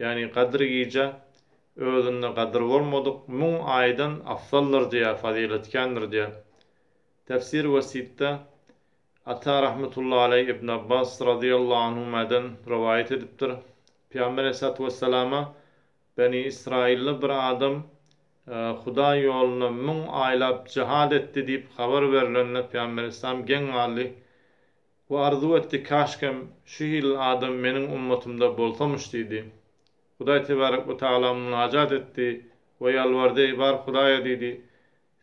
Ýagny Gadyr gije özünde gadyr bolmadyk müň aýdan afzaldyr diýýär, fazyletkändir diýýär. Tefsir Wesitde Ata rahmetullahy aleý Ibn Abbas radyýallahu anhümäden rowaýat edipdir, Pygamber aleýhissalatu wesselama Beni Ysraýylly bir adam Hudaý ýolunda müň aýlap jihad etdi diýip habar berlende Pygamber aleýhissalam geň galdy, We arzuw etdi, Käşgem, şu hili adam meniň ummatymda bolsamyş diýdi. Hudaý tebärek we tagala munajat etdi we ýalbardy, Eý, bar Hudaýa diýdi,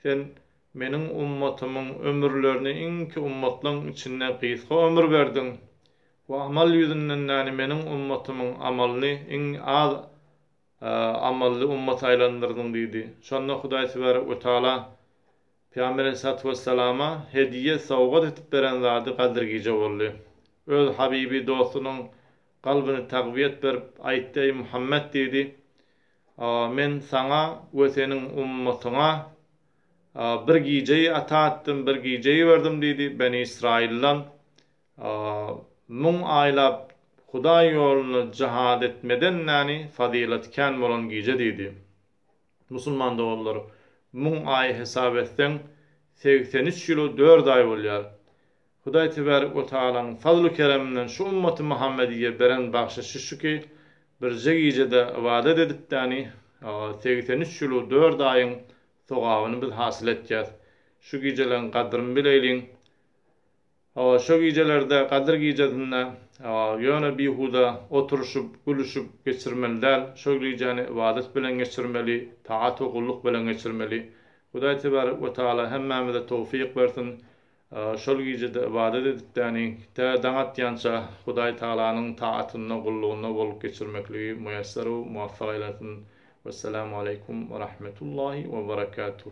Sen Meniň ummatymyň ömürlerini iňki ummatlaň içinde gysga ömür berdiň we amal ýüzünden näni Meniň ummatymyň amalyny iň az amally ummata aýlandyrdyň diýdi. Şonda Hudaý tebärek we tagala Pygamber aleýhissalatu wessalama hediýe, sowgat edip beren zady Gadyr gije boldy. Öz habibi, dostunyň kalbyny tagwiýet berip, aýtdy, Eý Muhammet diýdi, Men saňa we seniň ummatyňa bir gijeýi ata etdim, bir gijeýi berdim diýdi, Beni Ysraýyldan müň aýlap Hudaý ýolunda jihad etmeden näni fazylat kän bolan gije diýdi. Musulman doganlar, müň aý hesap etseň, segsen üç ýyl-u dört aý bolýar. Hudaý Tebärik we Tagalaň fazl-u-kereminden şu ümmaty Muhammediýe beren bagşyşy şu ki, birje gijede ybadat edipdäni, segsen üç ýyl-u dört aýyň sogabyny biz hasyl etýäs. Şu gijeleň gadryny bileýliň. Hawa, şo gijelerde, Gadyr gijesinde, ýöne bihuda oturyşyp, gülüşip geçirmeli däl. Şo gijäni ybadat bilen geçirmeli, taat we gulluk bilen geçirmeli. Hudaý Tebarek we Tagala hemmämize towfyk bersin. Şol gijede ybadat edipdäni, tä daň atýança Hudaý Tagalanyň taatynda, gullugynda bolup geçirmekligi muýesser-u muwaffak eýlesin. Wessalamaleýkum werahmetullahi weberekatuh.